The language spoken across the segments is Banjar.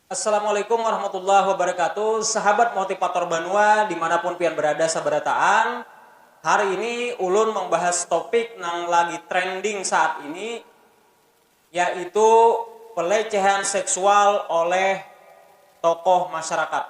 Assalamualaikum warahmatullahi wabarakatuh sahabat motivator banua dimanapun pian berada sabarataan hari ini ulun membahas topik nang lagi trending saat ini yaitu pelecehan seksual oleh tokoh masyarakat.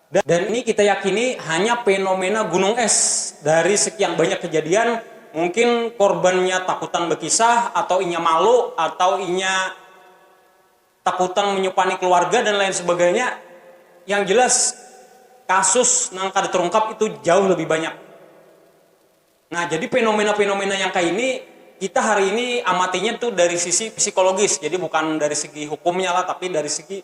Dan ini kita yakini hanya fenomena gunung es. Dari sekian banyak kejadian, mungkin korbannya takutan bekisah, atau inya malu, atau inya takutan menyupani keluarga dan lain sebagainya. Yang jelas kasus nang kada terungkap itu jauh lebih banyak. Nah, jadi fenomena-fenomena yang kaya ini kita hari ini amatinya tu dari sisi psikologis, jadi bukan dari segi hukumnya lah, tapi dari segi.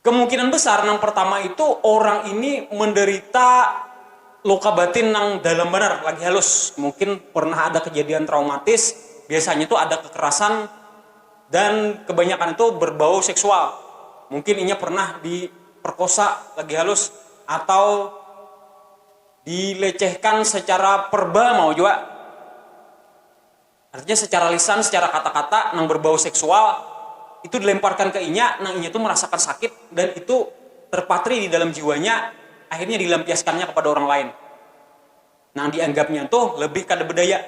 Kemungkinan besar nang pertama itu orang ini menderita luka batin nang dalam banar, lagi halus, mungkin pernah ada kejadian traumatis, biasanya tu ada kekerasan dan kebanyakan itu berbau seksual, mungkin inya pernah diperkosa lagi halus atau dilecehkan secara perba mau jua. Artinya secara lisan, secara kata-kata nang berbau seksual itu dilemparkan ke inya, nang inya tu merasakan sakit dan itu terpatri di dalam jiwanya, akhirnya dilampiaskannya kepada orang lain nang dianggapnya tu lebih kada bedaya.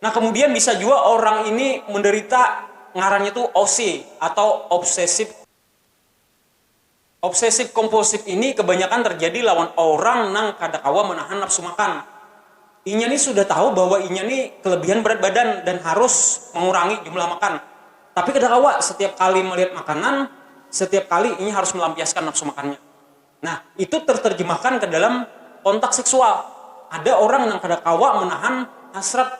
Nah, kemudian bisa jua orang ini menderita ngarannya tu OC atau obsessive. Obsesif kompulsif ini kebanyakan terjadi lawan orang nang kada kawa menahan nafsu makan. Inya ni sudah tahu bahwa inya ni kelebihan berat badan dan harus mengurangi jumlah makan, tapi kada kawa, setiap kali melihat makanan, setiap kali inya harus melampiaskan nafsu makannya. Nah, itu terterjemahkan ke dalam kontak seksual. Ada orang nang kada kawa menahan hasrat.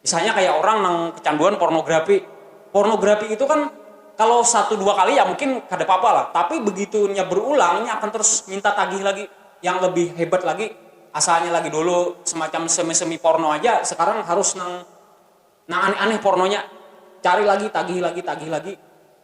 Misalnya kaya orang nang kecanduan pornografi. Pornografi itu kan kalau satu dua kali ya mungkin kada papa lah, tapi begitu inya berulang inya akan terus minta tagih lagi yang lebih hebat lagi asalnya lagi dulu semacam semi semi porno aja sekarang harus nang nang aneh aneh pornonya cari lagi tagih lagi tagih lagi.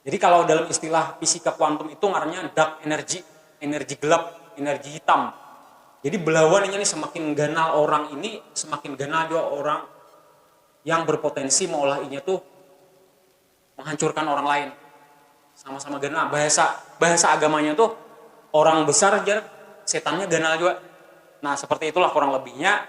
Jadi kalau dalam istilah fisika kuantum itu ngarannya dark energy, energi gelap, energi hitam. Jadi belawan inya nih semakin ganal orang ini, semakin ganal jua orang yang berpotensi meolah inya tuh menghancurkan orang lain. Sama-sama ganal. Bahasa bahasa agamanya tuh orang besar jar setannya ganal jua. Nah seperti itulah kurang lebihnya.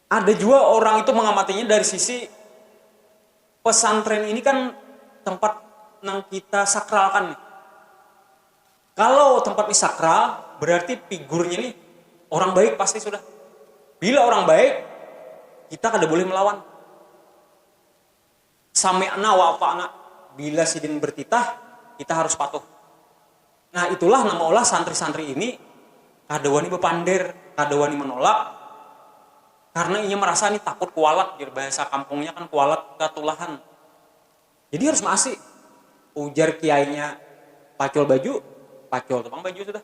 Ada jua orang itu mengamatinya dari sisi pesantren ini kan tempat nang kita sakralkan nih. Kalau tempat ini sakral, berarti figurnya nih orang baik pasti sudah. Bila orang baik, kita kada boleh melawan. Sami'na wa ata'na, bila sidin bertitah, kita harus patuh. Nah itulah nang maulah santri-santri ini kada wani bapander, kada wani manolak karna inya marasa nih takut kualat jar bahasa kampungnya kan kualat katulahan. Jadi harus maasi, ujar kiainya pacul baju, pacul tu pang baju sudah.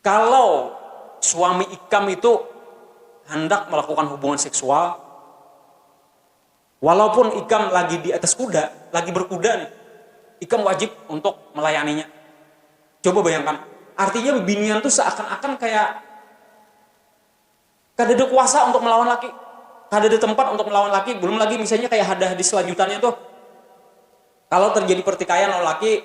Kalau suami ikam itu handak melakukan hubungan seksual, walaupun ikam lagi di atas kuda, lagi berkuda nih, ikam wajib untuk melayaninya. Coba bayangkan, artinya bibinian tuh seakan-akan kaya kadada kuasa untuk melawan laki, kadada tempat untuk melawan laki, belum lagi misalnya kaya hadis-hadis selanjutannya tuh, kalau terjadi pertikaian lawan laki,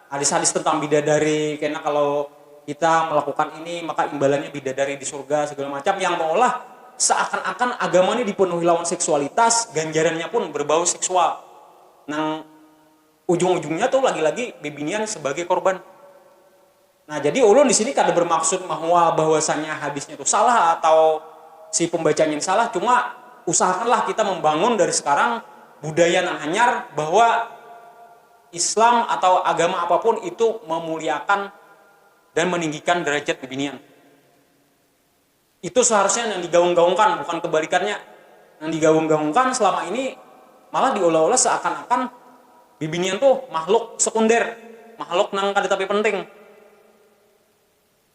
Hadis-hadis tentang bidadari, kena kalau kita melakukan ini maka imbalannya bidadari di surga segala macam yang meolah seakan-akan agama ni dipenuhi lawan seksualitas, ganjarannya pun berbau seksual nang ujung-ujungnya tu lagi-lagi bibinian sebagai korban. Nah, jadi ulun di sini kada bermaksud bahwa bahwasanya hadisnya tu salah atau si pembacanya ni salah, cuma usahakanlah kita membangun dari sekarang budaya nang hanyar bahwa. Islam atawa agama apapun itu memuliakan dan meninggikan derajat bibinian. Itu seharusnya nang digaung-gaungkan, bukan kebalikannya. Nang digaung-gaungkan selama ini malah diulah-ulah seakan-akan bibinian tu makhluk sekunder, makhluk nang kada tapi penting.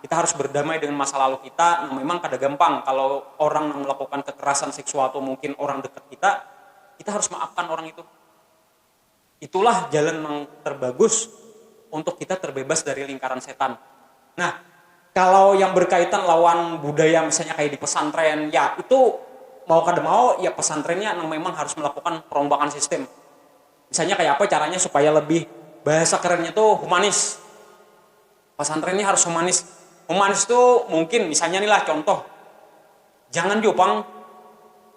Kita harus berdamai dengan masa lalu kita nang memang kada gampang. Kalo orang nang melakukan kekerasan seksual tu mungkin orang dekat kita, kita harus maafkan orang itu. Itulah jalan nang terbagus untuk kita terbebas dari lingkaran setan. Nah, kalo yang berkaitan lawan budaya misalnya kaya di pesantren, ya itu mau kada mau ya pesantrennya nang memang harus melakukan perombakan sistem. Misalnya kaya apa caranya supaya lebih, bahasa kerennya tu humanis. Pasantren ni harus humanis. Humanis tu mungkin misalnya ni lah contoh, jangan jua pang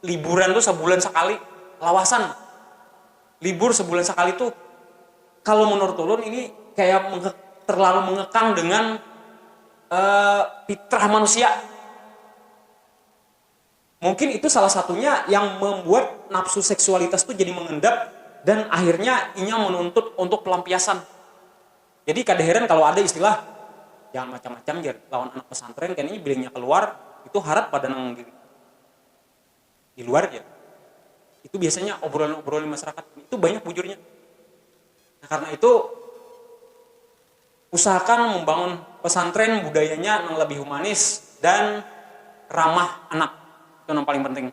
liburan tu sabulan sakali, lawasan. Libur sabulan sakali tu kalo menurut ulun ini kaya terlalu mengekang dengan fitrah manusia. Mungkin itu salah satunya yang membuat nafsu seksualitas tu jadi mengendap dan akhirnya inya menuntut untuk pelampiasan. Jadi kada heran kalo ada istilah, jangan macam-macam jar lawan anak pesantren kayanya bila inya keluar itu harat pada nang di luar jar. Itu biasanya obrolan-obrolan di masyarakat itu banyak bujurnya. Nah karena itu. Usahakan membangun pesantren budayanya nang lebih humanis dan ramah anak, itu nang paling penting.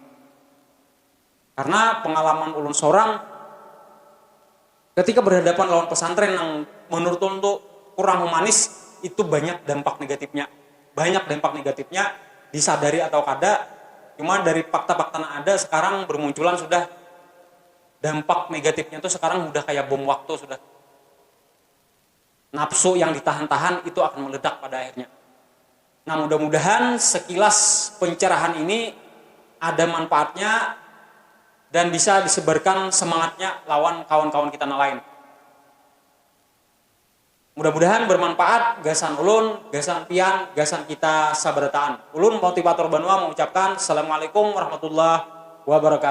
Karena pengalaman ulun sorang ketika berhadapan lawan pesantren nang menurut ulun tu kurang humanis itu banyak dampak negatifnya, banyak dampak negatifnya disadari atau kada cuma dari fakta-fakta nang ada sekarang bermunculan sudah dampak negatifnya tu sekarang sudah kaya bom waktu sudah. Nafsu yang ditahan-tahan itu akan meledak pada akhirnya. Nah, mudah-mudahan sekilas pencerahan ini ada manfaatnya dan bisa disebarkan semangatnya lawan kawan-kawan kita nang lain. Mudah-mudahan bermanfaat gasan ulun, gasan pian, gasan kita sabarataan. Ulun Motivator Banua mengucapkan Assalamualaikum Warahmatullahi Wabarakatuh.